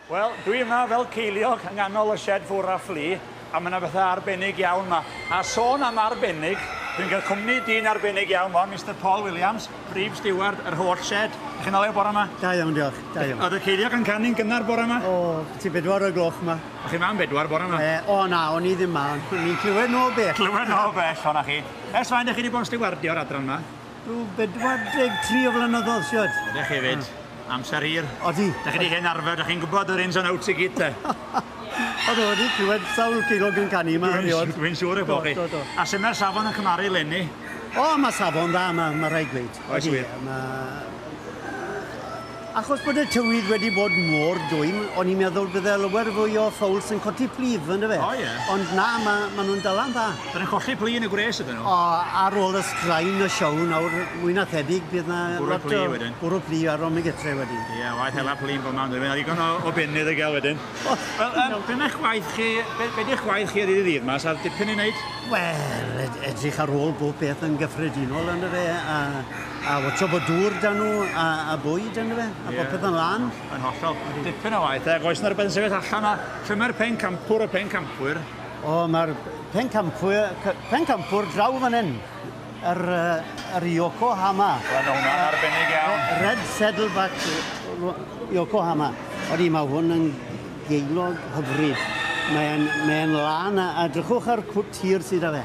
Wel, dwi yma fel ceiliog yng nghanol y shed ffwr a fflu, a mae yna bethau arbennig iawn yma. A sôn am arbennig, dwi'n cael cwmni dyn arbennig iawn fo, Mr Paul Williams, Brif Steward yr holl shed. Ydych chi'n olew bore yma? Da iawn, diolch. Da iawn. Oedd y ceiliog yn canu'n gynnar bore yma? O, ti bedwar o'r gloch yma. O'ch chi yma am bedwar bore yma? E, o na, o'n i ddim yma. Ni'n clywed nhw o bell. Clywed nhw o bell, o'na chi. Ers faint dych chi wedi bod yn stiwardio'r adran yma? Rhyw 43 o flynyddoedd, siwad. Ydych chi fyd? Amser hir. Odi. Dych chi wedi hen arfer, dych chi'n gwybod yr ins and outs i gyd, te? Oedd o wedi clywed sawl ceilog yn canu yma erioed. Dwi'n siŵr eich bod chi. Do, do, do. A sut mae'r safon yn cymaru lenni? O, mae safon dda, mae, mae rhaid gweud. Oes wir? Mae Achos bod y tywydd wedi bod mor dwym, o'n i'n meddwl bydde lawer fwy o ffowls yn codi plith, yn dyfe? O, ie. Ond na, ma, ma nhw'n dala'n dda. Dyn nhw'n colli plu yn y gwres ydyn nhw? O, ar ôl y straen y siow nawr, mwy na thebyg bydd na Bwrw lot plu o wedyn. bwrw plu ar ôl Megetre wedyn. Ie, waeth hela plu'n bob man, mae ddigon o, o benydd i gael wedyn. O, Wel, um, be mae'ch gwaith chi, be, be di'ch gwaith chi ddydd i ddydd yma? Sa'r dipyn i wneud? Wel, ed- edrych ar ôl bob peth yn gyffredinol, yn dyfe? A A watcho bod dŵr dan nhw a, a bwyd yn fe, a yeah. popeth yn lan. Yn hollol. Dipyn o waith, ac oes yna rhywbeth yn sefyll allan a lle mae'r pen campwr, y pen campwyr? O, mae'r pen campwyr, pen campwr draw fan hyn. Yr, yr Yokohama. Wel, mae hwnna'n arbennig iawn. Red Saddleback Yokohama. Oeddi, mae hwn yn geilog hyfryd. Mae'n mae lan a, a drychwch ar cwt hir sydd â fe.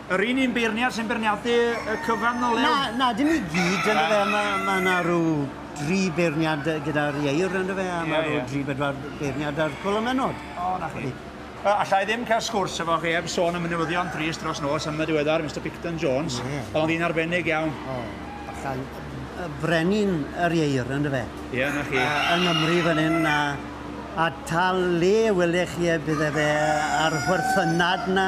Yr un un beirniad sy'n beirniadu y cyfan ddo Lew? Na, na, dim i gyd, ynde fe, mae ma yna rhyw dri beirniad gyda'r ieir, ynde fe, a mae rhyw dri bedwar beirniad ar Cwlwm Menod. O, na chi. Uh, allai ddim cael sgwrs efo chi heb sôn am y newyddion trist dros nos am y diweddar, Mr Picton Jones. Yeah. Oedd o'n ddyn arbennig iawn. O, allan, y brenin yr ieir, ynde fe? Ie, yeah, na chi. Uh, yng Nghymru fan hyn, a, a tal le welech chi e, bydde fe ar y chwerthynad na,